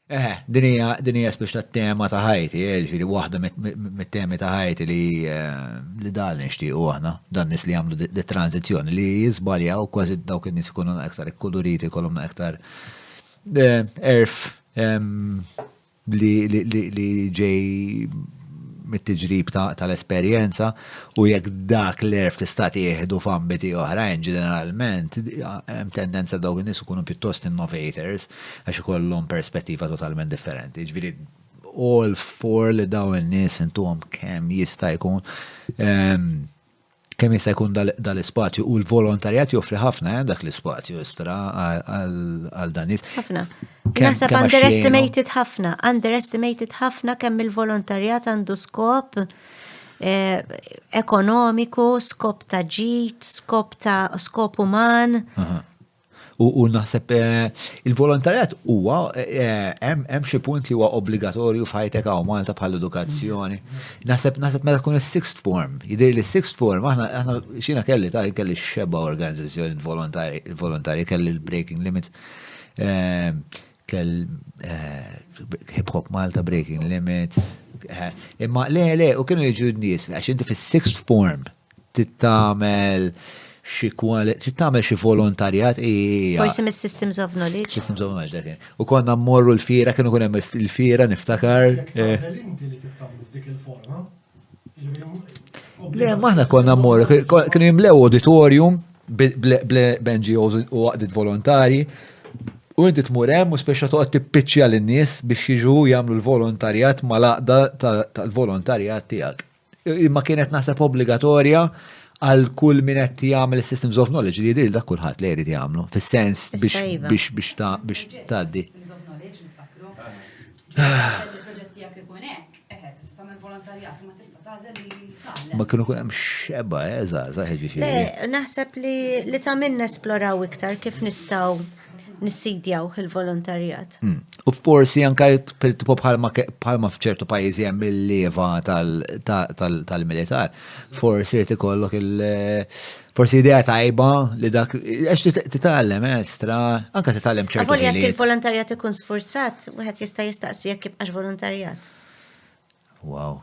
Eħe, din hija din hija spiċċa t-tema ta' ħajti, eh, ġifieri waħda mit-temi ta' ħajti li eh, li dan nixtiequ aħna, dan nies li jagħmlu dit-tranzizzjoni li jiżbaljaw kważi dawk in-nies ikunu aktar ikkuluriti, jkollhom aktar eh, erf ehm, li ġej mit-tiġrib tal-esperjenza u jekk dak l-erf tista' tieħdu f'ambiti oħrajn ġeneralment hemm tendenza dawk in-nies ikunu pjuttost innovators għax ikollhom perspettiva totalment differenti. Jiġifieri all for li daw in-nies intuhom kemm jista' jkun ehm, kemm jista' jkun dal-ispazju u l-volontarjat joffri ħafna eh, dak l-ispazju istra għal dan nies. Ħafna. Nasab underestimated ħafna, underestimated ħafna kemm il-volontarjat għandu skop eh, ekonomiku, skop ta' ġit, skop ta' skop uman. U naħseb eh, il-volontarjat huwa eh, hemm xi punt li huwa obbligatorju f'ħajtek hawn Malta bħal edukazzjoni. Naħseb naħseb meta tkun is-sixth form, jidher li s-sixth form aħna aħna xina kelli ta' kelli xeba organizzazzjoni volontarji kelli l-Breaking Limit eh, kell Hip Hop Malta Breaking Limits. Imma le le u kienu jiġu n-nies għax inti fis-sixth form Trid tagħmel xi trid tagħmel xi volontarjat Forsi mis-systems of knowledge. Systems of knowledge dak. U konna mmorru l-fira kienu kun hemm il-fira niftakar. Inti li tittamlu f'dik il-forma. Le, maħna konna mmorru, kienu jimlew auditorium bl-NGOs u għaqdit volontari. U inti tmur hemm u speċa toqgħod tippiċċja lin-nies biex jiġu jagħmlu l-volontarjat mal-għaqda tal-volontarjat tiegħek. Imma kienet naħseb obbligatorja għal kull min qed jagħmel systems of knowledge li jidhir dak kulħadd li jrid jagħmlu fis-sens biex iva. biex biex ta' biex tgħaddi. Ma kienu kun hemm xeba eżaża eh, ħeġiġi. Le, naħseb li li ta' minn nesploraw iktar kif nistgħu nissidjawh il-volontarjat. Hmm. U forsi anka tipo bħalma f'ċertu pajjiżi hemm il-leva tal-militar, forsi jrid ikollok il- forsi idea tajba li dak, għax titgħallem eh, estra, anka titgħallem ċertu. Għavol jekk il-volontarjat ikun sforzat, wieħed jista' jistaqsi jekk jibqax volontarjat. Wow.